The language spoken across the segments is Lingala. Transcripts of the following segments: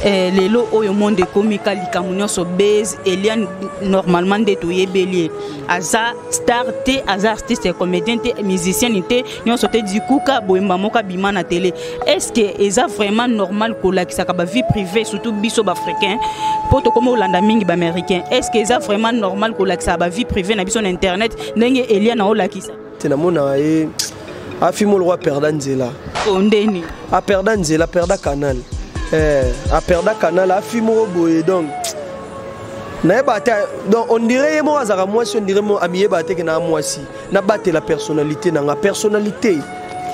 Eh, lelo oyo monde ekomi ka likambo nyonso base elia normalement nde toyebeli ye aza star te aza artiste comédien te musicienne te nyonso te dikuka boyemba moko abima na tele est ce que eza vraiment normal kolakisaka bavie privée surtout biso baafricain mpo tokoma kolanda mingi baaméricain est ce que eza vraiment normal kolakisaka bavie privée na biso na internet ndenge elia na olakisa te namona ye afimi oloko aperda nzela ondeni aperda nzela aperda canal eh, aperda canal afimi moko boye donc nayeba ata donc ondire ye moko azalaka mwasi ondire mo amiyeba ate ke naa mwasi nabatela personnalité na nga personnalité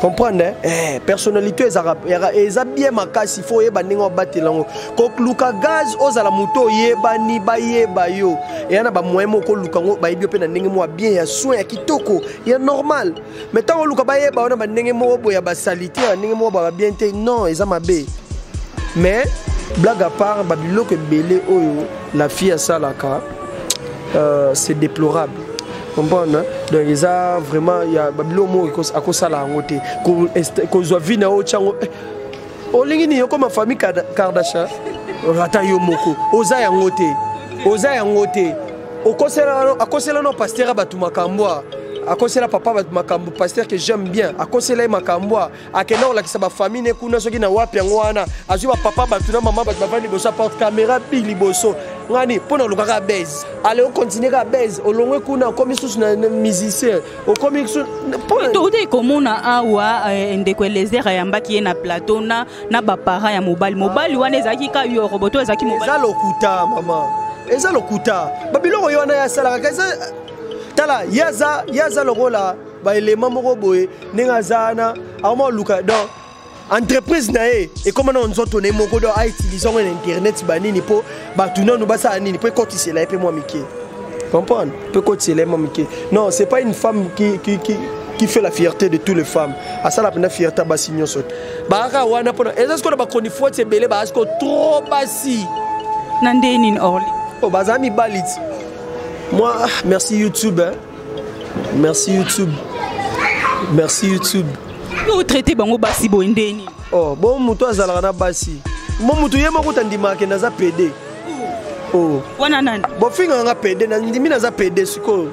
comprendre eh, personnalité ezalaka eza bien makasi fo oyeba ndenge obatela yango kokluka gaz ozala moto oyebani bayeba yo eya na bamoyen moko oluka yango bayebi yo mpe na ndenge moko ya bien ya soin ya kitoko ya normal mai ntango oluka bayeba yo na bandenge moko boye ya basalite ya ndenge moko baba bien te non eza mabe mais blague à part babiloko ebele oyo la fille asalaka euh, c'est déplorable comprendre donc eza vraiment ya babiloko moko akosala yango te kozwa vi na yo otyango eh, olingi nini okoma famille kardasha ata yo moko oza yango te oza yango te akosela no pasteur ya bato makambo a akosela papa bato makambo pasteur que j'aime bien akosela ye makambo a akenda kolakisa bafamille ne kuna soki na wapi yango wana azwi bapapa bato na mama bato bavandi liboso aporte kamera bi liboso ngani mpo na olukaka base ale okontinue ka base olongwe kuna okomi susu na musicien okomi toutaki komona awa eh, ndeko elezer ayambaki ye na plateau na, na baparent ya mobali mobali wana ezalaki ka yorobo to ezalaki eza lokuta mama eza lokuta babiloko ye wana ye asalaka eza tala ye aza ye aza lokola baelema moko boye ndenge aza wana akomoluka donc entreprise na ye ekoma nano nzoto na ye moko do autilize yango na internet banini mpo bato nano basala nini mpo ekotisela ye mpe mwa mike comprendre mpo ekotisela ye mwa mike non c'est pas une femme qui, qui, qui, qui fait la fierté de toutes les femmes asala mpenza fierté ya basi nyonso te bakaka wana mpona eza sikoyo na bachronifuati ebele baa sikoyo trop basi na ndenge nini orly oyo oh, baza mibali ti moi ah, merci youtube hein. merci youtube merci youtube otraite bango basi boye ndeni oh, bo motu azalaka na basi mo motu ye moko tandimaka kende aza pede oh. wana nani bofingaka nga pede nandimi naza pede sikoyo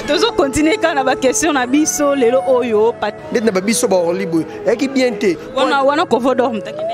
tozokontinue kaka na baquestion na biso lelo oyo ndeti na babiso baorli boye eyaki bien te wana wana kovodormtakende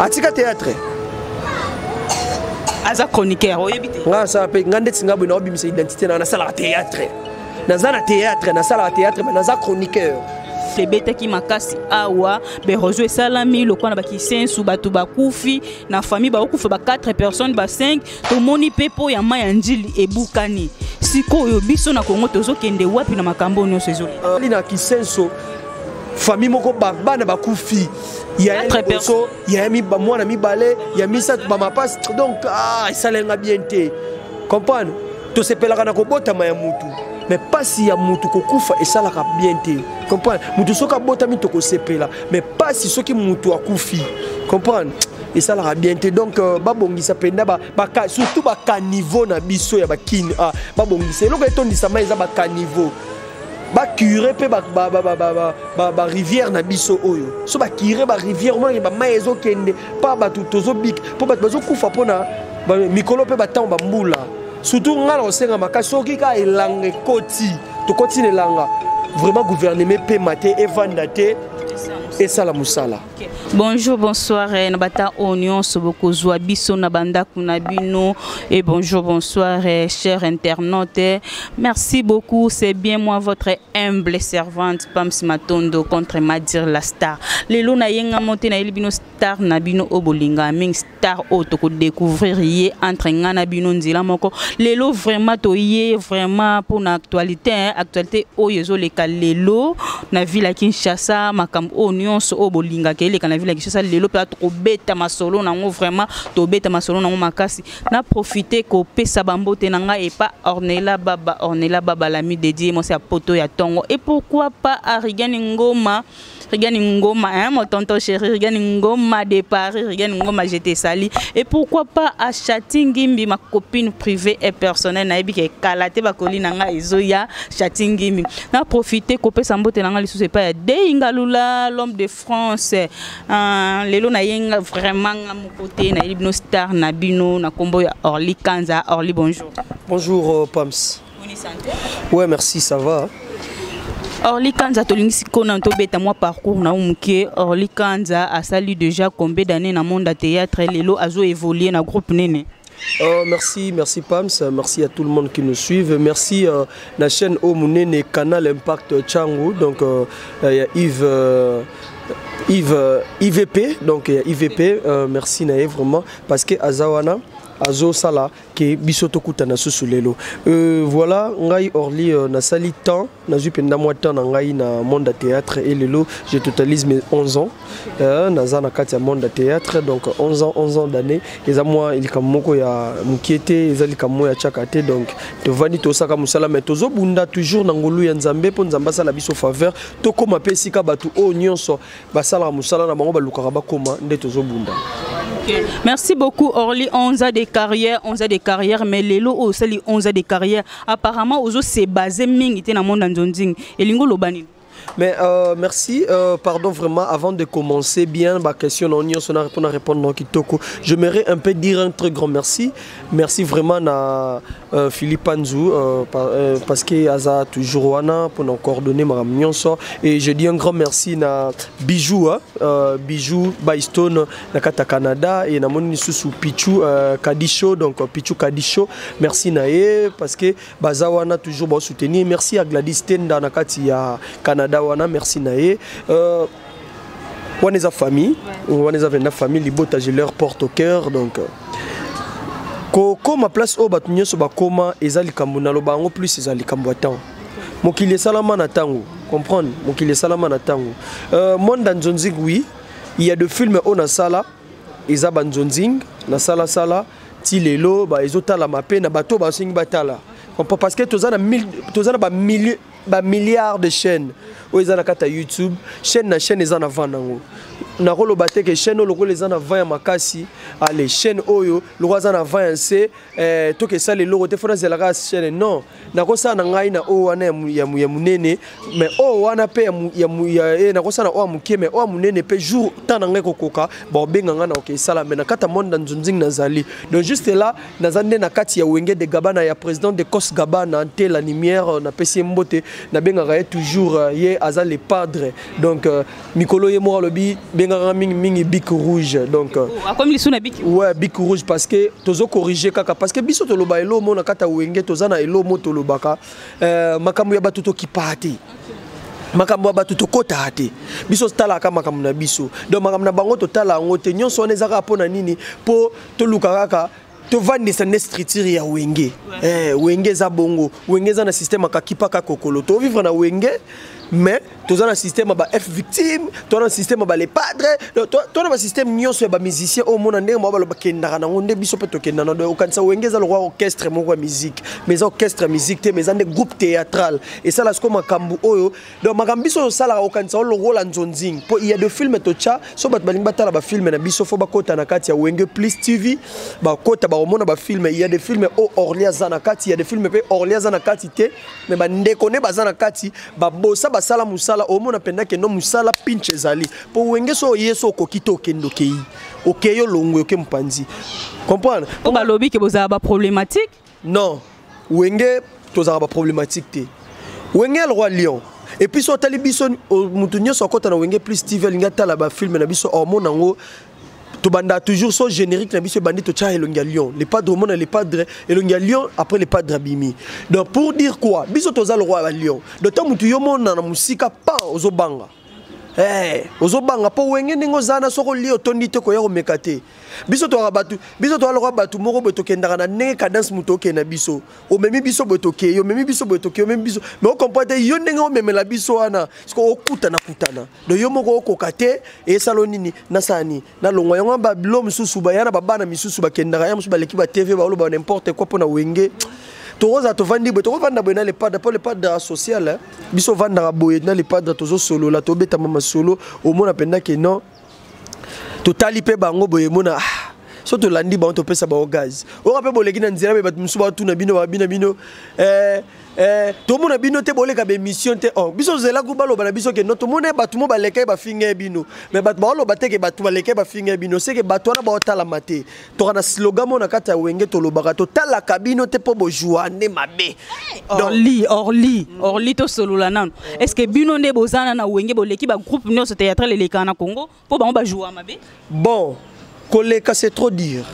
atika théâtre aza chroniqueur oyebi te nga asala mpe nga ndeti nga boye naobimisa identité na nasalaka théâtre naza na théâtre nasalaka théâtre me naza chroniqueur ebetaki makasi awa berozo esalami lokola na bakisensu bato bakufi na famille bakokufa ba 4 personnes ba 5 tomoni mpe mpo ya mai ya njili ebukani sikoyo biso na kongo tozokende wapi na makambo oyo nyonso ezoli euh, na kisenso famille moko bana bakufi yaliboso ya mwana mibale ya misato bamapasi donc ah, esalenga bien te comprendre tosepelaka na kobotama ya mutu mais pasi ya mutu kokufa esalaka bien te comprendre mutu soki abotami tokosepela mais pasi soki mutu akufi comprendre esalaka bien te donc euh, babongisa mpenza surtout bacaniveau na biso ya bakini ah, babongisa eloko etondisama eza bacaniveau bacure mpe barivière na biso oyo so bacure barivière omonake bamai ezokende mpa bato tozobika mpo bato bazokufa mpona mikolo mpe bantango bambula surtout ngai na kosenga makasi soki kaka elanga ekoti tokoti na elanga vraiment gouvernement epema te evanda te esala mosala Bonjour, bonsoir, eh, Nabata Onion, Soboko Biso, Nabanda Kunabino, et bonjour, bonsoir, eh, chers internautes. Eh. Merci beaucoup, c'est bien moi, votre humble servante, Pam Simatondo, contre Madir la star. Les Luna Yenga Monte, Naïlibino Star, Nabino Obolinga, Ming tard oyo toko découvrir ye entre ngai na bino nzela moko lelo vraiment toye vraiment mpo na actualité hein. actualité oyo ezoleka lelo na ville ya kinshasa makambo oyo nyonso oyo bolingaka eleka na ville ya kinshasa lelo mpenza tokobeta masolo nango vraiment tobeta masolo nango makasi na profite kopesa bambote na ngai epa ornela baba ornela baba lami dedie mwasi ya poto ya tongo et pourquoi pas arigani ngoma Rigani Ngoma, hein, mon tonton chéri, Rigani Ngoma de Paris, Rigani Ngoma, je te salue. Et pourquoi pas à Chatingimbi, ma copine privée et personnelle, na ebi ke kalate ba koli nanga ezo ya Chatingimbi. Na profiter kopé sambote nanga lisu c'est pas ya Deingalula, l'homme de France. Euh, lelo na yenga vraiment nga mon côté na libno star na bino na combo ya Orly Kanza. Orly bonjour. Bonjour euh, Pams. Ouais, merci, ça va. Orly Kanza tolingi siko na tobeta mwa parcours na muke Orly Kanza asali déjà combien d'années na monde théâtre lelo azo évoluer na groupe nene Oh, merci, merci Pams, merci à tout le monde qui nous suit. Merci à euh, la chaîne Omunene Canal Impact Changu, donc euh, euh, Yves. Euh, Yves, euh, IVP, donc IVP, euh, merci Naé vraiment, parce que Azawana, Azo Sala, ke biso tokutana susu lelo euh, voilà ngai orly euh, nasali temps nazwi mpenza mwa temps na ngai na monde ya théâtre e lelo je totalise mes 11 ans euh, naza na kati ya monde ya théâtre donc 11 ans 11 ans d'année eza mwa likambo moko ya mokie te eza likambo moko ya tiaka te donc tovandi tosaka mosala mai tozobunda toujours na ngolu ya nzambe mpo nzambe asala biso faveur tokóma mpe esika bato oyo nyonso basalaka mosala na bango balukaka bakoma nde tozobunda Merci beaucoup Orly, 11 ans de carrière, 11 ans de carrière, mais Lelo aussi les 11 ans de carrière. Apparemment, Ozo s'est basé mingi dans le monde en Zonding. Et Lingo Lobani. Mais euh, merci, euh, pardon vraiment, avant de commencer bien ma question, on a répondu à répondre Kitoko. J'aimerais un peu dire un très grand merci Merci vraiment na euh, Philippe Anzou euh, par, euh, parce que aza toujours wana pour nous coordonner ma mionso et je dis un grand merci na Bijou hein, euh, Bijou Bystone na kata Canada et na moni sous Pichu euh, Kadisho donc euh, Pichu Kadisho merci na ye parce que baza wana toujours ba soutenir merci à Gladys Tenda na kati ya Canada wana merci na ye euh, wana eza famille wana eza venda famille libota je leur porte au cœur donc euh, kokoma place oyo bato nyonso bakoma eza likambo naloba yango plus eza likambo ya ntango mokili esalama na ntango comprendre mokili esalama na ntango euh, monda nzonzing oui il y a de filme oyo nasala eza banzonzing nasalasala ti lelo ezotalama mpe na bato oyo basengi batala parce que toza na bamillieu ba milliards de chaînes oyo eza na kati ya youtube chaîne na chaîne eza na vent nango nakoloba te ke chaîne oyo lokola eza na vent ya makasi ale chaîne oyo lokola aza na vent ya nse eh, toka esala eloko te fo nazela kaka chaîne non nakosala na ngai na oyo wana ya monene mais oyo wana mpe eh, nakosala na oyo ya moke mais oyo ya monene mpe jour temps na ngai kokoka baobenga ngai na oke esala mais na kati ya monde na nzunzingi nazali donc juste là naza nde na kati ya wenge de gabana ya président de cos gabana nte la nimière euh, napesi ye mbote nabengaka ye toujours euh, ye aza le padre donc euh, mikolo ye moko alobi bengaka mingi mingi bic rouge donc oh, akomi lisu na bic ouais bic rouge parce que tozo corriger kaka parce que biso toloba elo mo na kati ya wenge toza na elo mo tolobaka makambo ya bato tokipaa te makambo ya bato tokotaka te biso totalaka makambo na biso donc makambo na bango totala yango te nyonso wana ezaka mpo na nini mpo toluka kaka tovandisa nde structure ya wenge eh, wenge eza bongo wenge eza na système akakipaka kokolo tovivre na wenge mais toza na système ba f victime toza na système ba les padres toza na basystème nyonso ya bamusicien oyo omona ndenge mwa baloba kendaka nango nde biso mpe tokenda na do okanisa wenge eza lokwa orchestre moko ya musique mais eza orchestre ya musique te mais eza nde groupe théâtral esala sikoyo makambo oyo donc makambo biso osalaka okanisa olongola nzonzing mpo ya de filme totya so bato balingi batala bafilme na biso fo bakota na kati ya wenge plus tv bakota bakomona bafilme ya de filme o orli aza na kati ya de filme mpe orli aza na kati te me bandeko nde baza na kati babosa basala mosala omona mpenza kendo mosala pinche ezali mpo wenge so oye so okoki te okende okei okei olongwe oke mopanzi comprendre balobi ke bozala baproblématique Non, Wenge tozalaka ba problématique te. Wenge le roi lion. Et puis so tali biso mutu nyoso akota na Wenge plus TV alinga tala ba film na biso hormone yango tobanda toujours so générique na biso ebandi totya elongi ya lion le padre omona le padre elongi ya lion après le padre abimi donc pour dire quoi biso toza le roi ya lion donc ntango motu yo omona na mosika pan ozobanga Hey, eh, ozobanga mpo wenge ndenge oza na soki olie otondi te koya komeka te biso toyaka bato biso toya lokola bato moko boye tokendaka na ndenge cadence moto okee na biso omemi biso boye tokei omemi biso boye tokei omemi biso me okomprend te yo ndenge omemela biso wana siko okutana kutana do yo moko okoka te esalo nini nasala nini nalongwa yango wana babilo mosusu baya na babana misusu bakendaka ya mosusu baleki ba tv baoloba n'importe quoi mpo na wenge tokozala tovandi boye tokovanda boye na lepadre mpo lepadre social eh. biso vandaka boye na lepadre tozosolola tobetama masolo omona mpenza ke non totali mpe bango boye mona ah, so tolandi bango topesa bango gaz oyoka mpe boleki na nzela mpe bato mosusu batuna bino babina bino eh, Eh, tomona bino te boleka baémission te oh, biso tozelaku baloba na biso ke no tomona bato mo baleka ye bafinga ye bino me bato baoloba te ke bato baleka ye bafinga ye bino seke bato wana baotalama te toka na slogan mo na kati ya wenge tolobaka totalaka bino te mpo bojua nde mabe eh, orli orli mm. orli tosolola nano est ce que bino nde bozana na wenge boleki bagroupe nyonso théâtral elekaka na congo po bango ba jouer mabe bon koleka c'est trop dire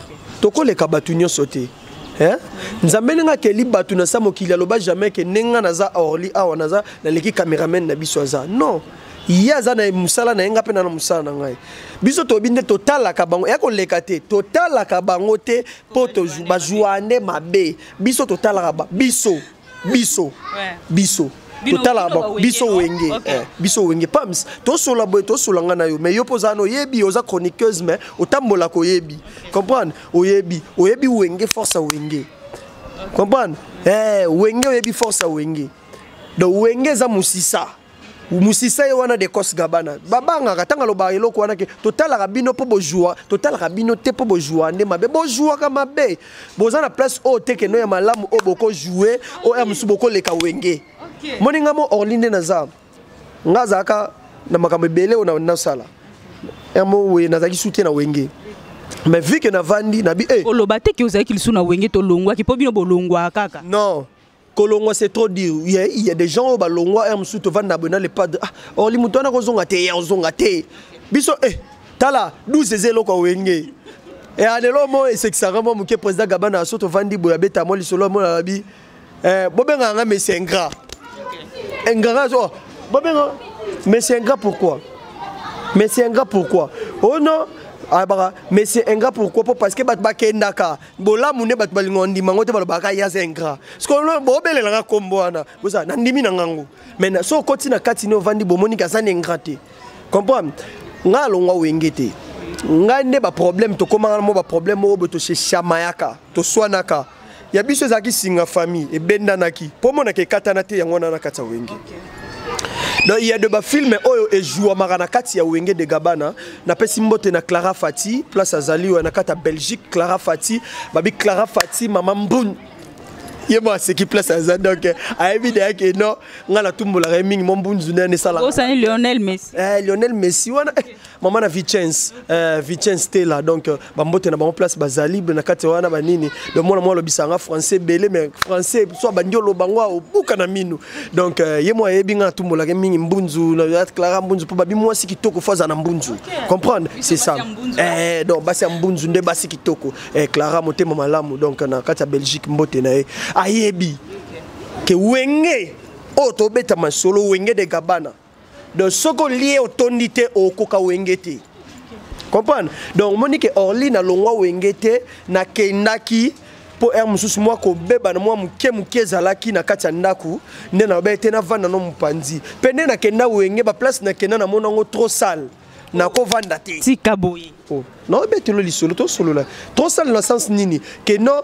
tokoleka bato nyonso te eh? nzambe ndenge akeli bato na sa mokili aloba jamais ke ndenge nga naza orly awa naza naleki cameraman na biso aza non ye aza na mosala na ye ngai mpe na na mosala na ngai biso toyebi nde totalaka bango ya koleka te totalaka bango te mpo bazuwa nde mabe biso totalaka biso biso biso totala biso wenge okay. eh, biso wenge pams tosola boye tosola nga na yo mais yo mpo ozala na oyebi oza chroniqueuse mais otambolaka oyebi comprendre oyebi oyebi wenge force ya wenge comprendre eh, wenge oyebi force ya wenge donc wenge eza mosisa musisa ye wana decos gabana babangaka ntango alobaka eloko wana ke totalaka bino mpo bojua totalaka bino te mpo bojua nde mabe bojuaka mabe boza na place oyo te keno ya malamu oyo bokojoue oyo ya mosusu bokoleka wenge moni nga mo orli nde naza nga azalaka na makambo ebele oyo nasala yamo weye nazalaki sute na wenge mais vu ke navandi nabi eh. oloba te ke ozalaki lisusu na wenge tolongwaki mpo bino bolongwaka kaka non kolongwa c'est trop dur il y, a, il y a des gens oyo balongwa heure mosusu tovandi na boye na le padre ah, orli moto wana kozonga te ye ozonga te biso eh, tala 12 eza eloko awenge e eh, lelo mo esekisaka mwa moke président gabana so tovandi boye abeta mwa lisolo ya mona abi eh, bobengaka nga mesi ingrat ingrat oh, bobenga mesi ingrat pourquoi mesi ingrat pourquoi oh non ayebaka ah, mesi ingrat pourquoi po parce que bato bakendaka bolamu nde bato balinga ondima yango te balobaka ye aza ingrat sikoyo bobelela nga nkombo wana boza nandimi na ngango mai so okoti na kati ne ovandi bomoniki aza na ingrat te comprendre ngai alongwa wenge te ngai nde baproblème tokomaka mo baproblème oyo boye toseshamayaka toswanaka ya biso ezalaki singa famille ebendanaki mpo omonaka ekatana te yango wana na kati ya wenge Donc il y a de ba films oyo et joua marana kati ya Wenge de Gabana na pesi mbote na Clara Fati place azali wa na kata Belgique Clara Fati babi Clara Fati maman Mbun ye mo aseki place aza donc euh, ayebi deya ke non ngai natumbolaka ye mingi mo mbunzu nde anesala osani lionel messi eh, lionel messi wana eh, mama na vicence euh, vicence tela donc euh, bambote na bango place bazalible na kati wana banini donc mwana mwa alobisa nga français ebele mais français so abandi oloba ngo obuka na minu donc euh, ye mwa ayebi nga atumbolaka mingi mbunzu na clara mbunzu mpo babi mwasi kitoko fo aza na mbunzu comprendre c'est ça eh, donc basi ya mbunzu nde basi kitoko eh, clara motema malamu donc na kati ya belgique mbote na ye ayebi ke wenge oyo tobeta masolo wenge de gabana donc soki olie otondi te okoka wenge te comprendre donc omoni ke orli nalongwa wenge te nakendaki mpo ere mosusu mwa kobeba na mwa moke moke ezalaki na kati ya ndako nde nalobaki te navanda no mopanzi mpe nde nakenda wenge baplace nakenda namona yango trop sale nakovanda te tika boye oh. naobetelo lisolo tosolola tosala na sense nini ke non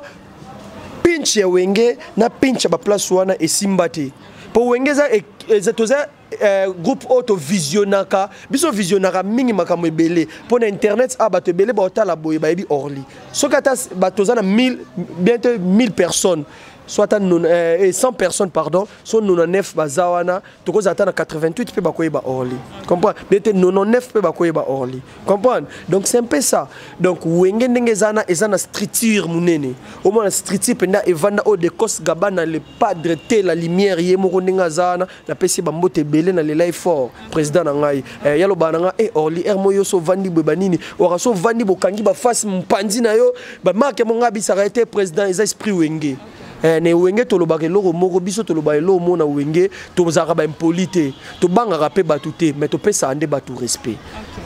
pinche ya wenge na pinche ya baplace wana esimba te mpo wenge eza e, e, toza eh, groupe oyo tovisionaka biso visionaka mingi makambo ebele mpo na internet a ah, bato ebele baotala boye bayebi orly soki ata bato oza na bientôt 1000 personnes soit à 100 eh, personnes pardon so 99 baza wana tokozala ata na 88 mpe bakoyeba orly comprendre ndete 99 mpe bakoyeba orly comprendre donc c'est un peu ça donc wenge ndenge eza na eza na structure monene omona structure mpenza evanda oyo de cos gabana le padre te la lumière ye moko ndenge aza wana napesi bambote ebele na lelai fort président na ngai eh, yalobaa na ngai e eh, orly r mo yo so ovandi boye banini waka so ovandi bokangi bafase mpanzi na yo bamarke mo ngai abisaka ye te président eza esprit wenge Eh, na ewenge tolobaka eloko moko biso toloba eloko moko na wenge tozalaka baimpoli te tobangaka mpe bato te mais topesaka nde bato respect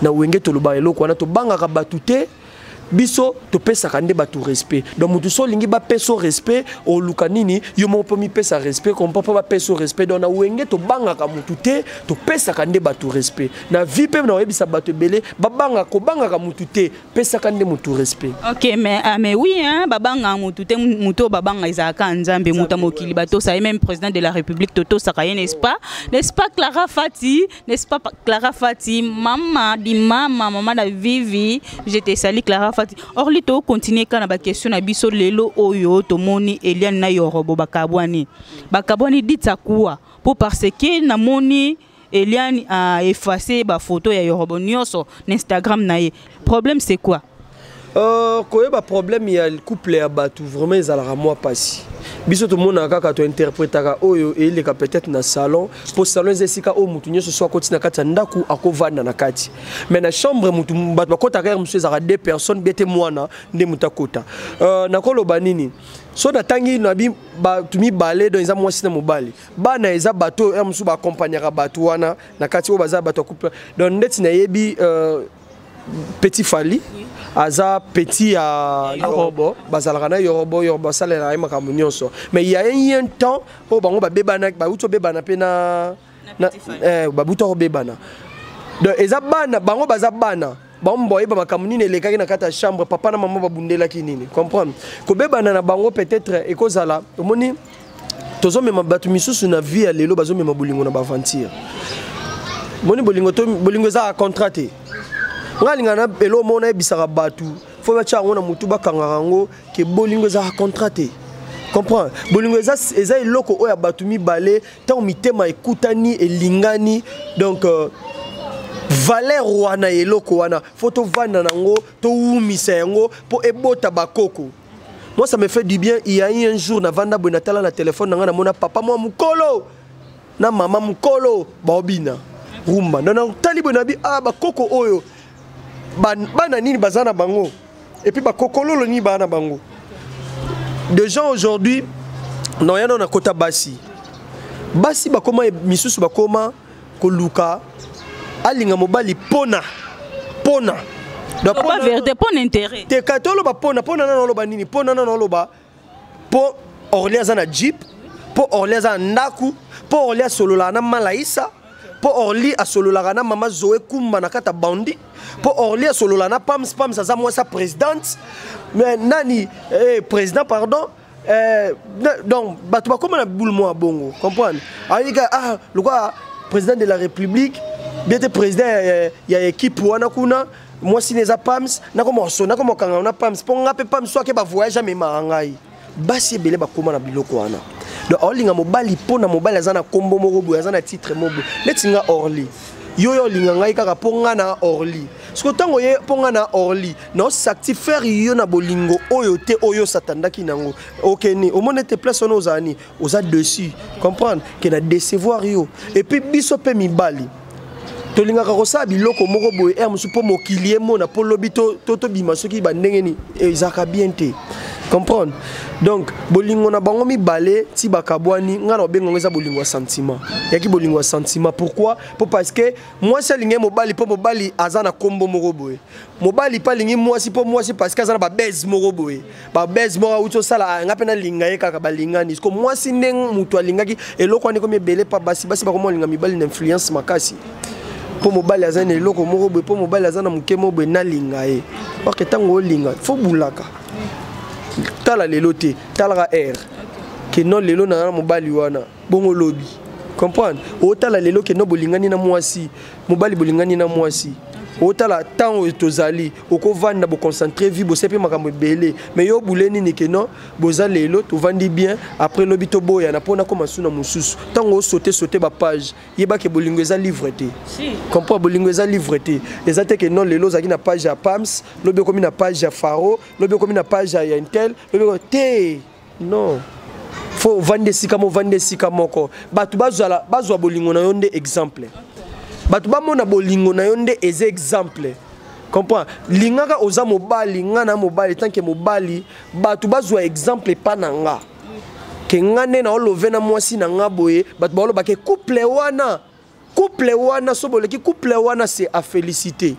na wenge tolobaka eloko wana tobangaka bato te biso topesaka nde bato respect donc motu so olingi bapesa o respect oluka nini yo moko mpo mipesa respect kompa mpo bapesa o respect donc na wenge tobangaka motu te topesaka nde bato respect na vie mpe na oyebisa bato ebele babanga kobangaka motu te pesaka nde motu respect ok mais, uh, mais oui hein, babanga motu te motu oyo babanga ezalaka nzambe motu ya mokili batosa ye même président de la république totosaka ye n'est-ce pas n'est-ce pas clara fati n'est-ce pas clara fati mama di mama mama na vivi je te sali clara fati orli tocontinue kaka na baquestion na biso lelo oyo tomoni eliane na yorobo bakabwani bakabwani ditakuwa mpo parce que namoni Eliane a effacé ba photo ya Yorobo nioso na Instagram na ye. Problème c'est quoi? Euh, koyeba problème ya couple ya bato vraiment ezalaka mwa mpasi biso tomonaka kaka tointerpretaka oyo eyeleka peut-être na salon mpo salon eza esika oyo moto nyonso so akoti na kati ya ndako akovanda na kati mais na chambre moto bato bakotaka yare mosusu ezalaka deux personnes bete mwana nde moto akota euh, nakoloba nini so natangi nabi bato mibale don eza mwasi na mobali bana eza bato oyo mosusu baakompagnaka bato wana na kati oyo baza bato ya couple donc ndeti nayebi euh, petit fali aza petit ya yorobo bazalaka na yorobo yorobo asalelaka ye makambo nyonso mais ya ye un temps oyo bango babebana bauti obebana mpe na eh, babuta kobebana donc eza bana bango baza bana bango bayeba makambo nini elekaki na kati ya chambre papa na mama babundelaki nini comprendre kobebana na bango peut-être ekozala omoni tozomema bato misusu na vie ya lelo bazomema bolingo na baaventure moni bolingo bolingo ezalaka contrat te ngai alingaka na elo moko nayebisaka bato fo batya yango na motu bakangaka yango ke bolingo ezalaka contrat te comprendre bolingo eza, eza eloko oyo ya bato mibale ntango mitema ekutani elingani donc euh, valeur wana ya eloko wana fo tovanda na yango towumisa yango mpo ebota bakoko moi ça me fait du bien il y a eu un jour navanda boye natala na telefone na ngai namona papa mwa mokolo na mama mokolo baobina rumba nana tali boye nabi ah bakoko oyo bana nini baza na bango et puis bakokololo nini baa na bango de gens aujourd'hui noya nao nakota basi basi bakoma misusu bakoma koluka alinga mobali pona pona verité pona intérêt te katoloba pona pona nano oloba nini pona nano oloba po orle aza na jeep po orle aza na ndaku po orle asololaka na malaisa po orli asololaka na mama zoe kumba na kata bandi po orli asololaka na pams pams aza mwasi ya présidente mais nani eh, président pardon eh, donc bato bakoma na boule mwa bongo comprendre ayika ah lokola président de la république bien te président ya, ya, ya équipe wana kuna mwasi ne eza pams nakoma so nakoma kangana na pams mpo nga mpe pams so ake bavoyage amemaka ngai basi ebele bakóma na biloko wana donc aolinga mobali mpo na mobali aza na nkombo moko boye aza na titre moko boye neti nga orly yo yo olinga ngai kaka mpo ngai na orly soko ntango ye mpo ngai na orly naosactifere yo na bolingo oyo te oyo satandaki nango okeni omoni ete place wana ozala nini oza dessus comprendre ke na decevoir yo epuis biso mpe mibali tolingaka kosala biloko moko boye r mosusu mpo mokili emona mpo lobi tobima soki bandenge nini ezalaka bien te comprendre donc bolingo na bango mibale ti bakabwani ngai na obenga yango eza bolingo ya sentiment yaki bolingo ya sentiment pourquoi mpo parce que mwasi alingi mobali mpo mobali aza na nkombo moko boye mobali mpe alingi mwasi mpo mwasi parce que aza na babese moko boye babese moko auti osala ah, nga mpe nalinga ye kaka balingani ko mwasi nde moto alingaki eloko wana ekomi ebele mpa basi basi bakoma olinga mibali na influence makasi mpo mobali aza na eloko moko boye mpo mobali aza na moke moko boye nalinga ye orke ntango olinga fo bulaka tala lelo te talaka aire ke non lelo naza na mobali wana bongo lobi comprendre otala lelo ke non bolingani na mwasi mobali bolingani na mwasi otala ntango oyo tozali okovanda boconcentre vie bosia mpe makambo ebele mai yo bule nini ke non boza lelo tovandi bien après lobi toboyana mpo nakoma su na mosusu ntango osote sote bapage yebake bolingo eza livre te comprend bolingo eza livre te eza te ke non lelo ozalaki na page ya pams lobi okomi na page ya faro lobi okomi na page ya intel lobi te non fo ovandi esika mo ovandi esika moko bato bazala bazwa bolingo na yo nde exemple bato bamona bolingo na yo nde eza exemple comprend lingaka oza mobali nga na mobali tanke mobali bato bazwa exemple epa na nga ke nga nde naolove na mwasi na nga boye bato baolobake couple wana couple wana soki boleki couple wana c'est à féliciter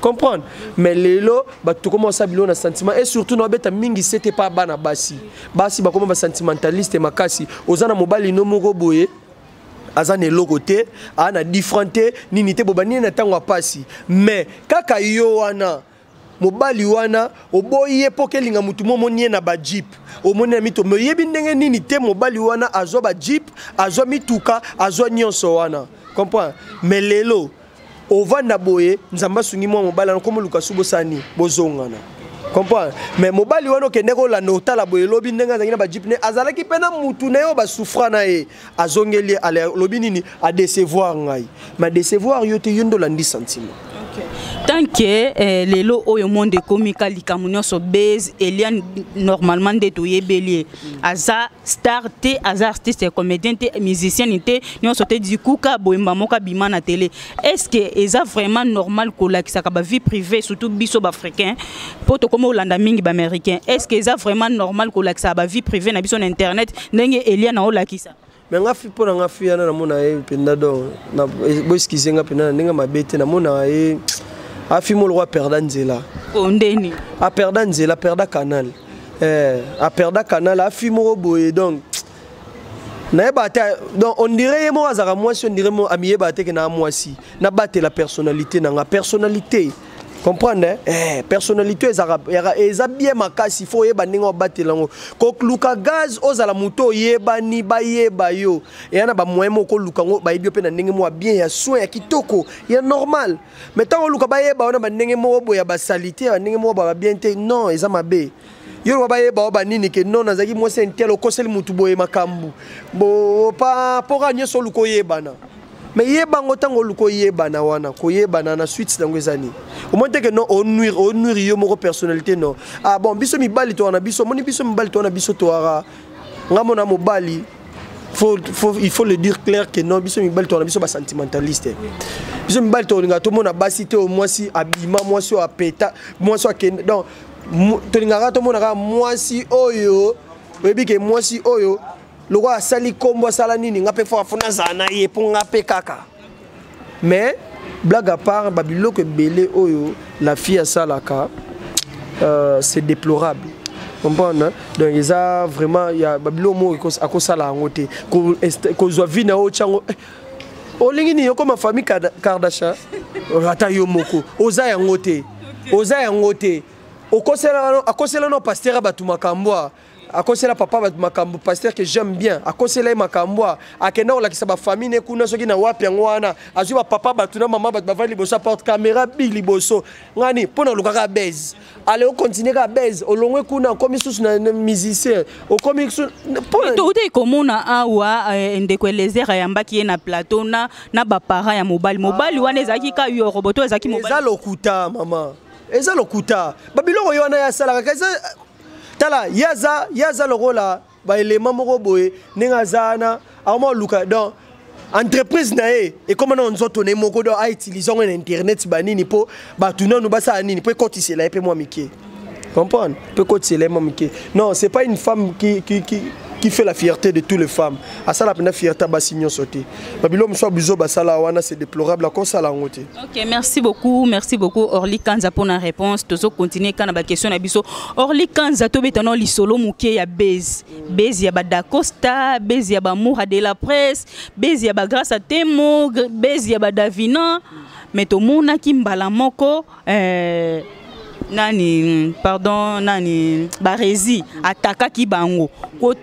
comprendre mais lelo bato tokoma osala biloko na sentiment et surtout na babeta mingi sete pa bana basi basi bakoma basentimentaliste makasi oza na mobali no moko boye aza na eloko te aa na different te nini te bobani na ntango ya mpasi mais kaka yo wana mobali wana oboyi ye mpo kelinga motu mo omoni ye na bajeep omoni na mito me oyebi ndenge nini te mobali wana azwa bajeep azwa mituka azwa nyonso wana comprendre me lelo ovanda boye nzambe asungi mwa mobali wana komoluka su bosani bozongana comprendre me mobali wana okende kolanda otala boye elobi ndenge azalaki na bajeep ne azalaki mpe na motu na ye oyo basufra na ye azongeli ye alobi nini adecevoir ngai ma decevoir yo te yo nde olandi sentiment tant que eh, lelo oyo monde ekomi ka likambo nyonso base elia normalement nde toyebeli ye aza star te aza artiste comédien te musicienne te nyonso te du coup ka boyemba moko abima na tele est ce que eza vraiment normal kolakisaka bavie privée surtout biso baafricain mpo tokoma olanda mingi baaméricain est ce que eza vraiment normal kolakisaka bavie privée na biso na internet ndenge elia na olakisa me nga mpo na nga fi wana namona ye mpenza do e, boeskize nga mpenza na ndenge mabe te namona ye afi mo lokwa aperda nzela oh, ndeni aperda nzela aperda canal eh, aperda canal afi moko boye donc nayeba ata donc on dirait ye moko azalaka mwasi on dirait mo amiyeba ate ke na mwasi nabatela personnalité na nga personnalité comprendre hein? eh, personnalité ezalaka eza bien makasi fo oyeba ndenge obatela yango kokluka gaz ozala moto oyebani bayeba yo eya na bamoyen moko koluka yango bayebi yo mpe na ndenge moko ya bien ya soin ya kitoko ya normal mais ntango oluka bayeba yo na bandenge moko boye ya basalite ya bandenge moko baba bien te non eza mabe yo loba bayeba yo banini ke non nazalaki mwasi intel okoseli motu boye makambo bopa mpo kaka nyonso oluka oyebana me yebango ntango oluka oyebana wana koyebana na suite yango eza nini omoni te ke non onuire onuire yo moko personnalité non ah bon biso mibali toa na biso omoni biso mibali toa na biso toaka nga mona mobali faut, faut, il faut le dire clair que non biso mibali tona biso basentimentaliste biso mibali tolinga tomona basi te mwasi abima mwasi oyo apeta mwasi akende donc tolingaka tomonaka mwasi oyo oyebi ke mwasi oyo lokola asali nkombo asala nini nga mpe fo nazala na ye mpo nga mpe kaka mais blague à part babiloko ebele oyo la fille asalaka euh, c'est déplorable comprendre donc eza vraiment ya babiloko moko akosala yango te kozwa vi na yo otyango eh, olingi nini okoma famille kardashian ata yo moko oza yango te oza yango te akosela no pasteur ya bato makambo a akosela papa bato makambo pasteur que j'aime bien akosela ye makambo a akenda kolakisa bafamille ne kuna soki na wapi yango wana azwi bapapa bato na mama bato bavandi liboso aporte caméra big liboso ngani mpo na olukaka base ale okontinue kaka base olongwe kuna okomi susu na musicien okomi toutei komona awa eh, ndeko elezer ayambaki ye na plateau na, na baparent ya mobali mobali wana ezalaki ka yo roboto ezalaki eza lokuta mama eza lokuta babiloko yo wana ye asalaka tala ye aza lokola ba elema moko boye ndenge aza wana akoma koluka donc entreprise na ye ekoma nao nzoto na ye moko donc autilize yango na internet banini mpo bato nano basala nini mpo ekotisela ye mpe mwa mike comprendre mpo ekotisela ye mwa mike non c'est pas une femme qui, qui, qui, qui fait la fierté de toutes les femmes asala mpenza fierté ya basi nyonso te babilo mosusu bizo basala wana c'est déplorable akosala yango te ok merci beaucoup merci beaucoup orli kanza mpo na réponse tozo continue kaka na baquestion na biso orli kanza tobeta nao lisolo moke ya base base ya badacosta base ya bamoura de la presse base ya bagrace ya temo base ya badavina me tomonaki mbala moko eh, nani pardon nani barezi atakaki bango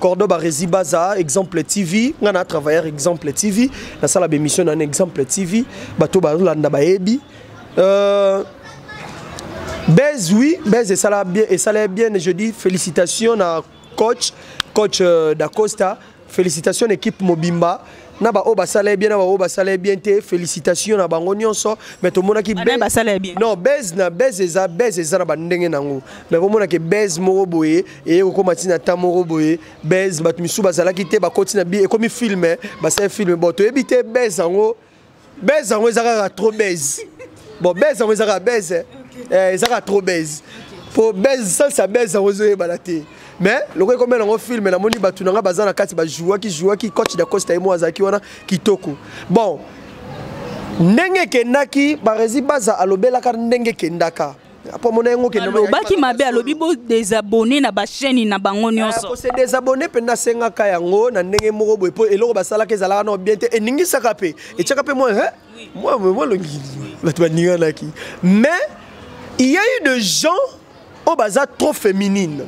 Cordo Barezi Baza, Exemple TV, nga na travailleur Exemple TV, na sala bémission na Exemple TV, bato ba landa ba ebi. Euh, Bez oui, Bez et sala bien et sala bien, je dis félicitations à coach, coach euh, Dacosta, félicitations équipe Mobimba. na baoyo basala ye bien na baoyo basala ye bien te félicitation na bango nyonso mais tomonaki non base na base eza base eza na bandenge nango mais bomonake base moko boye eye kokóma ntina ata moko boye base bato misusu bazalaki te bakoti na bi ekomi filme basali filme bon toyebi te base yango base yango eza kaka trop base bon base yango eza kaka base eh. eh, eza kaka trop base po base sens ya base yango ezoyebana te mais lokola ekomela yango filme namoni bato na ngai baza na kati bajouaki jouaki coach da costa ye mo azalaki wana kitoko bon ndenge ekendaki barezi baza alobelaka ndenge ekendaka alobaki mabe alobi bo desabonne na bachaine na bango nyonso ah, se desabonne mpe nasengaka yango na ndenge moko boye mpo eloko basalaka ezalaka nao bien te eningisaka mpe etyaka mpe mwa mwa mwa longi bato baninganaki mais il y a eu de gens oyo baza trop féminine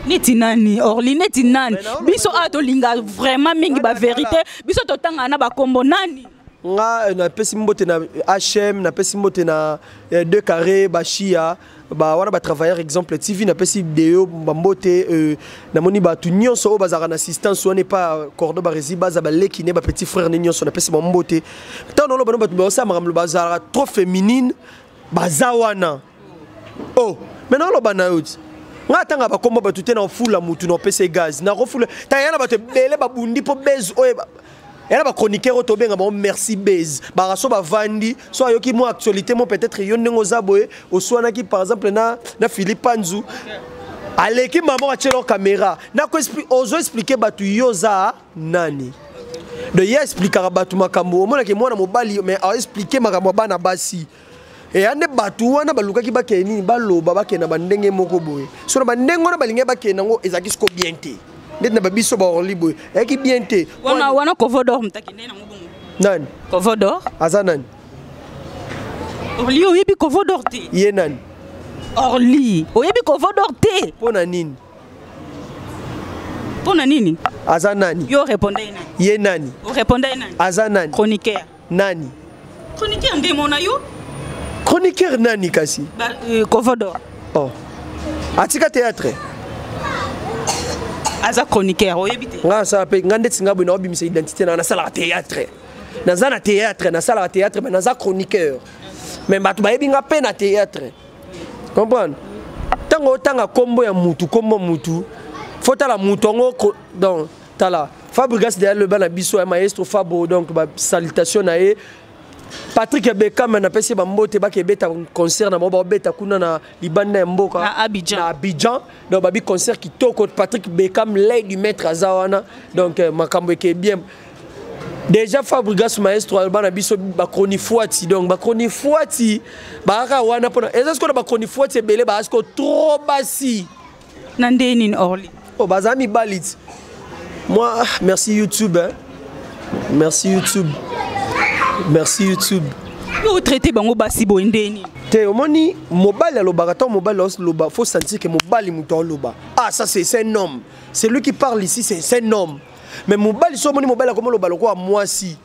neti nani orli neti nani biso awa tolinga vraiment mingi baverité biso totangana na bakombo nani nga eh, napesi mbote na hm napesi mbote na eh, deux carré bashia ba wana batravailleur exemple tv napesi deo bambote euh, namoni bato nyonso oyo bazalaka na assistance wana epa cordo baresi baza baleki ne bapetit frère ne nyonso napesi bambote ntango noloba no bato baosala makambo bazalaka trop féminine baza wana o oh, me naoloba na yo ti ngai atanga bakombo bato te na ofula motu na opesa ye gaz nakofula taya na bato ebele babundi mpo base oyo yala ba chroniqueur oyo tobenga bango merci base baraso bavandi so ayoki mwa actualité mo peut-être yo ndenge oza boye oswanaki par exemple na, na philippe panzu aleki mama atyelao kamera nako ozo explike bato yo oza nani de ye explikaka bato makambo omonaki mwana mobali mais aexplike makambo ya bana basi eya nde bato wana balukaki bakende nini baloba bakende na bandenge moko boye so na bandenge wana balingaki bakende yango ezalaki siko bien te ndeti na babiso baorli boye eyaki bien te wana wana covodor motaki nde nango bongo nani covodor aza nani orli oyebi covodor te ye nani orli oyebi covodor te mpo na nini mpo na nini aza nani yo orepondaki nani ye nani orepondaki nani aza nani chroniqueur nani chroniqueur nde mona yo chroniqueur nani kasi ba, euh, kovodor oh. atika théâtre aza chroniqueur oyebi te nga asala mpe nga ndeti nga boye naobimisa identité na nasalaka théâtre naza na théâtre nasalaka théâtre me naza chroniqueur me bato bayebi nga mpe na théâtre comprendre ntango otanga nkombo ya mutu nkombo mutu fotala mutu yango donc tala fabrigas deya loba na biso ya maestro fabo donc basalutation na ye Patrick Bekam na pesi bambote bake beta concert na bango beta kuna na libanda ya mboka na Abidjan, na Abidjan. donc babi concert kitoko Patrick Bekam lay du maître aza wana donc euh, makambo eke bien déjà Fabregas maestro alba na biso ba chronifuati donc ba chronifuati ba ka wana pona eza sikola ba chronifuati ebele ba asko trop basi na ndenge nini orly o oh, baza mibali ti moi ah, merci youtube hein? merci youtube merci youtube yo otraite bango basi boye ndenge nini te omoni mobali alobaka ntango mobali aoloba faut sentir ke mobali moto aoloba ah ça c'est un homme celui qui parle ici c'est un homme mais mobali so omoni mobali akomoloba lokola mwasi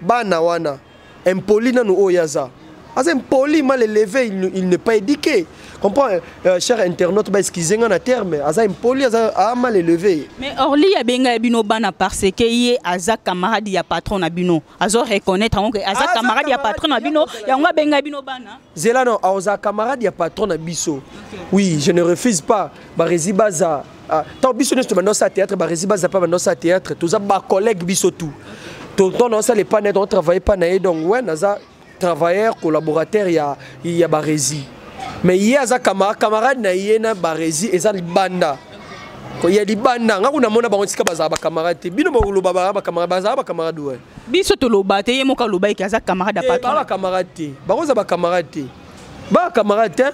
bana wana impoli nanu oyo aza aza impoli mal éleve il, il n'est pas éduqué comprend euh, euh, cher internaute ba excuse nga na terme aza impoli aza a mal élevé mais orly ya benga ya bino bana parce que ye aza camarade ya patron na bino azo reconnaître yango que aza camarade ya patron na bino yango abenga bino bana zela non aza camarade ya patron na biso oui je ne refuse pas barezi baza Ah, tant biso nyonso tobanda osala théâtre baresi bazapa banda osala théâtre toza bacollègue biso tout tonton na osala epa na ye tongo travaille epa na ye donc we naza travailleur collaborateur ya, ya baresi mais ye aza camarade camarade na ye na baresi eza libanda ya libanda nga kuna mona bango tika bazala bacamarade te bino boloba baa bacamarade bazala bacamarade we biso toloba te ye moko aloba eke aza camarade ya eh, patron bacamarade te bango eza bacamarade te bacamarade te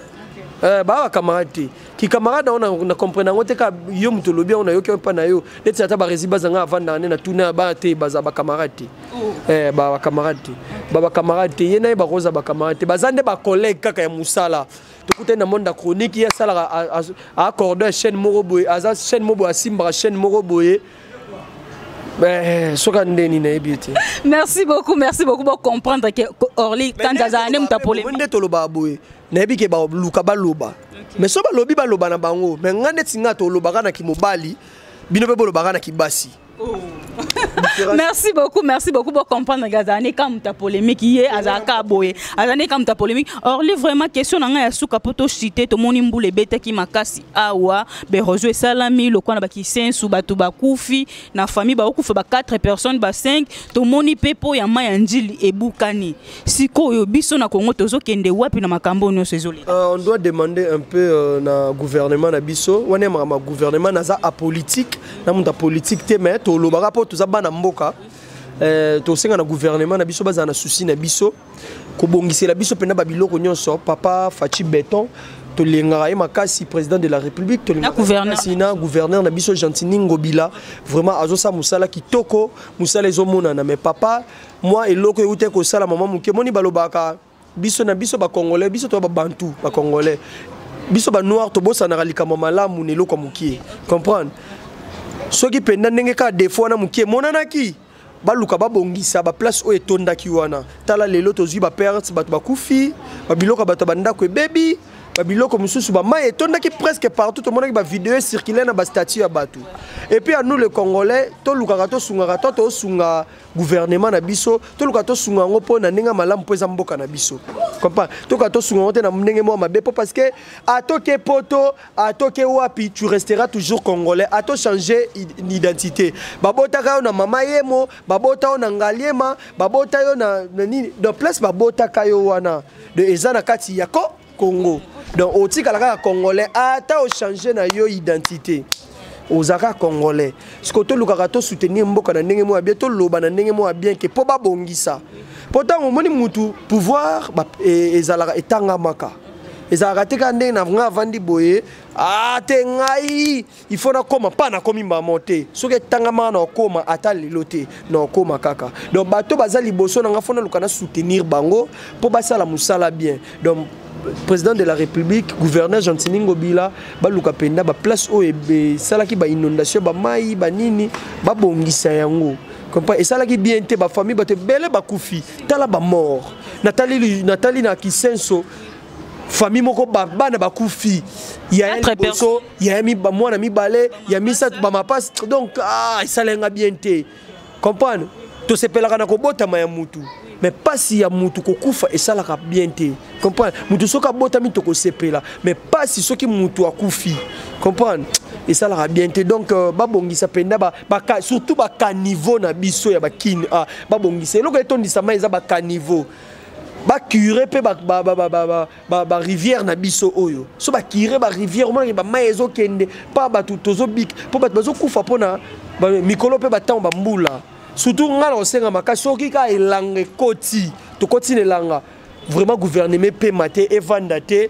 eh, bacamarade te kikamarade yango na, na comprendre yango te ka yo moto olobi yango nayoki yango mpa na yo neti ata baresi bazanga avandaka nde na tuna ya bana te baza bacamarade te oh. eh, bacamarade te babacamarade te ye na ye bakoza bacamarade te baza nde bacollègue kaka ya mosala tokutani na monde ya chronique ye asalaka aacorde ya chaîne moko boye aza chaîne moko boye asimbaka chaîne moko boye Eh, soka nde nini nayebi ete merci beaucoup merci beaucoup bocomprendre ke orly kanza azala nde moto apole nde tolobaka boye nayebi ke baluka baloba mais so balobi baloba na bango mais ngai neti ngai tolobaka na kimobali bino mpe bolobaka na kibasi oh. merci beaucoup merci beaucoup pour comprendre que azala nde kamuta polémique ye azala ka boye azala nde kamuta polémique orly vraiment question na ngai ya suka mpo toshite tomoni mbula ebetaki makasi awa berozo esalami lokola na bakisensu bato bakufi na famille baokufa ba 4 personnes ba 5 tomoni mpe mpo ya mai ya njili ebukani sikoyo biso na congo tozokende wapi na makambo nyonso ezoleka uh, on doit demander un peu uh, na gouvernement na biso wana makambo ya gouvernement naza apolitique na moto apolitique te mais tolobaka mpo toza bana mboka Eh, tosenga na gouvernement na biso bazala na souci na biso kobongisela biso mpenza babiloko nyonso papa faci beton tolingaka ye makasi président de la république tolingakasi na gouverneur na biso gentini ngobila vraiment azosala mosala kitoko mosala ezomonana mais papa mwa eloko euta ekosalama mwa moke moni balobaka biso na biso bacongolais biso toya babantu bacongolais biso banoir tobosanaka likambo malamu na eloko ya mokie comprendre soki mpenza ndenge kaka defo wana mokie emonanaki baluka babongisa baplace oyo etondaki wana tala lelo tozwi baperte bato bakufi babiloko ya bato ya bandako ebebi babiloko mosusu bamai etondaki presque partout tomonaki bavideo ecirculaire na bastatut ya bato epuis ya nous le congolais tolukaka tosungaka to tosunga gouvernement na biso toluka tosunga yango mpo na ndenge malamu mpo eza mboka na biso comprend toka tosunga yango te na ndenge moko mabe mpo parce que atoke poto atoke wapi tu restera toujours congolais ato changer identité babotaka yo na mama yemo babota yo na ngaliema babota yo na nini de place babotaka yo wana eza na kati ya ko Congo. Donc otikala kaka congolais ata o changer na yo identité. ozalaka congolais siko tolukaka tosoutenir mboka na ndenge moko ya bien toloba na ndenge moko ya bien ke mpo babongisa mpo ntango omoni mutu pouvoir e, ezalaka etangamaka ezalaka te kaka ndenge na nga avandi boye ate ah, ngai il faut nakoma mpa nakomi mbala moko te soki etangamaka na okoma ata lelo te na okoma kaka donc bato baza liboso na ngai fo naluka na soutenir bango mpo basala mosala bien donc président de la république gouverneur gentini ngobila baluka mpenza baplace oyo esalaki bainondation bamai banini babongisa yango comprend esalaki bien te bafamille bato ebele bakufi tala bamort natali na kisenso famille moko bana bakufi ya liboso ya mwana mibale ya misato bamapasi donc ah, esala nga bien te comprendre tosepelaka na kobotama ya mutu mais pasi ya mutu kokufa esalaka bien te comprendre mutu soki abotami tokosepela mais pasi soki mutu akufi comprendre esalaka bien te donc euh, babongisa mpenza surtout bacaniveau na biso ya bakini ah, babongisa eloko etondisama eza bacaniveau bacure mpe ba, ba rivière na biso oyo so bakire ba rivière omonaki bamai ezokende mpa bato tozobika mpo bato bazokufa mpo na mikolo mpe bantango bambula surtout ngai na kosenga makasi soki kaka elanga ekoti tokoti na elanga vraiment gouvernement epema te evanda te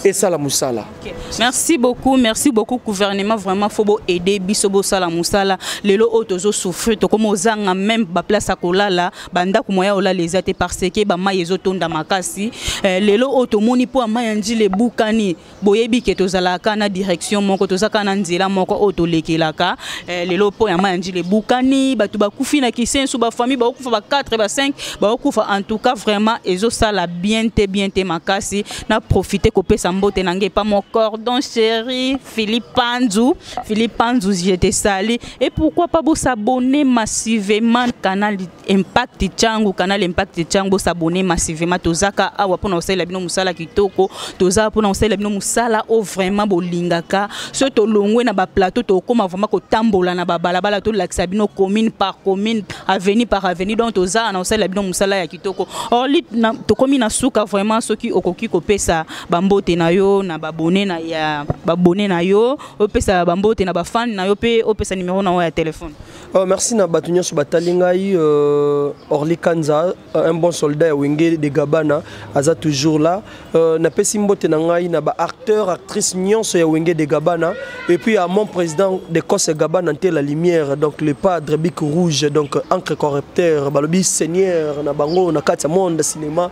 et ça la moussala. Okay. Merci beaucoup, merci beaucoup gouvernement vraiment faut bo aider biso bo sala moussala. Lelo otozo souffrir to comme ozanga même ba place à kolala bandako moya ya olala eza te parce que bamai ezotonda makasi eh, lelo oyo tomoni mpo ya mai ya njila ebukani boyebi ke tozalaka na direction moko tozalaka na nzela moko oyo tolekelaka eh, lelo mpo ya mai ya njila ebukani bato bakufi na kisensu bafamille bakokufa ba 4 ba 5 bakokufa en tout cas vraiment ezosala bien te bien te makasi na profite kopesa mbote na ngai epa mo cordon chéri philippe panzu philippe panzu je te sali Et pourquoi pas vous s'abonner massivement canal Impact Changu, canal Impact Changu, vous s'abonner massivement. Tozaka awa pona osala bino musala kitoko, toza pona osala bino musala o vraiment bolingaka. So to longwe na ba plateau to koma vraiment ko tambola na ba balabala to lakisa bino commune par commune, avenue par avenue. Donc toza na osala bino musala ya kitoko. Or lit na to komi na suka vraiment soki okoki ko pesa ba mbote na yo na ba bonne na ya ba bonne na yo opesa bambote na bafane na yo mpe opesa nimero na yo ya telefone oh, merci na bato nyonso batali ngai euh, orli kanza euh, un bon soldat ya wenge de gabana aza toujours là euh, napesi mbote na ngai na baacteur actrice nyonso ya wenge de gabana et puis à mon président de cose gabana nte la lumière donc le padre bic rouge donc encre corrupteur balobi seigneur na bango na kati ya monde cinéma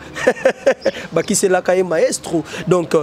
bakiselaka ye maestro donc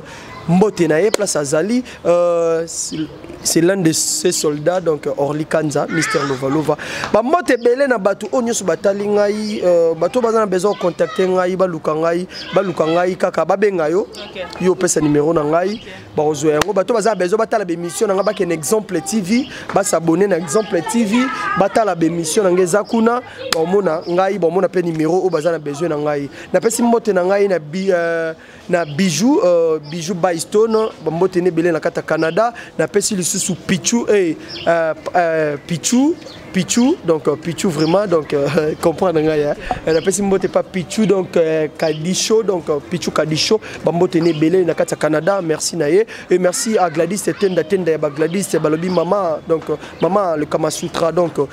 mbote na ye place azali euh, c'est l'un de ses soldats donc euh, Orly Kanza Mister Lovalova ba mbote ebele na bato oyo nyonso batali ngai euh, bato baza na besoin contacter ngai baluka ngai baluka ngai kaka babenga yo okay. yo opesa numéro na ngai okay. bakozwa yango bato baza na besoin batala bémission na ngai bakende exemple tv basabone na exemple tv batala bémission na ngai eza kuna baomona ngai baomona mpe numéro oyo baza na besoin na ngai napesi mbote na ngai na bi euh, na bijou uh, bijou bystone bambote ne ebele na kati ya canada napesi lisusu pichu hey, uh, uh, pichu Pichou, donc euh, Pichou vraiment, donc euh, comprendre nga ya. Elle appelle si mbote pas Pichou donc euh, Kadicho, donc euh, Pichou Kadicho, bambote né belé na kati Canada, merci naye et merci à Gladys Tenda Tenda ba Gladys balobi maman donc euh, maman le Kama Sutra donc euh,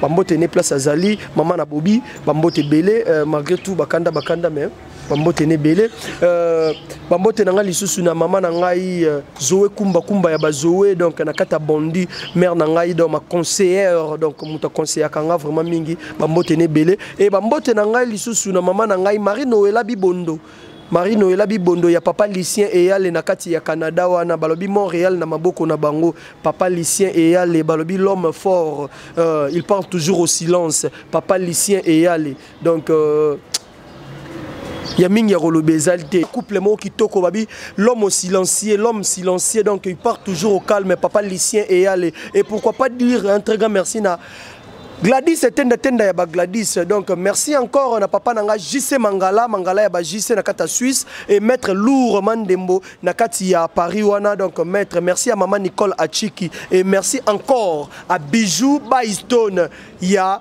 bambote né place azali, maman na Bobby, bambote belé euh, malgré tout bakanda bakanda mais bambote na ebele euh, bambote na ngai lisusu na mama na ngai euh, zoe kumba kumba ya bazoe donc na kati ya bondi mare na ngai donc ma conseillere donc moto aconseillaka ngai vraiment mingi bambote na ebele e bambote na ngai lisusu na mama na ngai marie noela bibondo marie noela bibondo ya papa lucien eyale na kati ya canada wana balobi montréal na maboko na bango papa lucien eyale balobi l'homme fort euh, il parle toujours au silence papa lucien eyale donc euh, ya mingi ya koloba ezali te couple moko kitoko babi l'homme silencieux l'homme silencieux donc il part toujours au calme papa lucien eyale et pourquoi pas dire un très grand merci na Gladys etenda tenda ya ba Gladys donc merci encore na papa nanga JC Mangala Mangala ya ba JC na kata Suisse et maître Lourd Mandembo na kati ya Paris wana donc maître merci à maman Nicole Achiki et merci encore à Bijou Baistone ya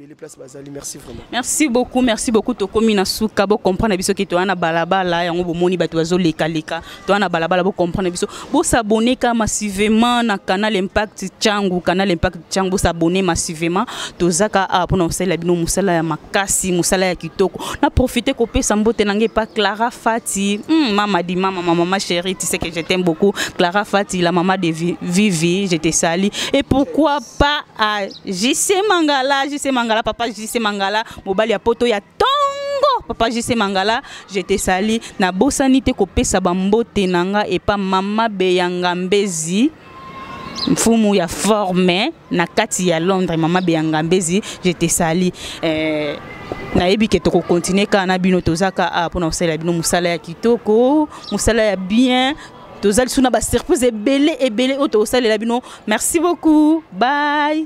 ebele place bazali merci vraiment merci beaucoup merci beaucoup tokomi na suka bocomprendre biso ke toya na balabala yango bomoni bato bazolekaleka toya na balabala bocomprendre biso bosabone ka massivement na canal impact cangu canal impact cangu bosabone massivement tozaka awa mpona kosalela bino mosala ya makasi mosala ya kitoko na profite kopesa mbote na ngai epa clara fati mm, mama di mama ma mama chérie tu sais que je t'aime beaucoup clara fati la mama de vivi je te sali et pourquoi pas à JC Mangala, JC Mangala, papa JC Mangala, mobali ya poto ya tongo, papa JC Mangala, je te salue, na bosani te kopesa bambote na nga epa mama beyanga mbezi, mfumu ya forme na kati ya Londres, mama beyanga mbezi, je te salue. Euh, nayebi ke tokokontinue kaka na bino tozaka a ah, mpona kosalela bino mosala ya kitoko mosala ya bien tozali suna ba surprise ebele ebele oyo tokosalela bino merci beaucoup bye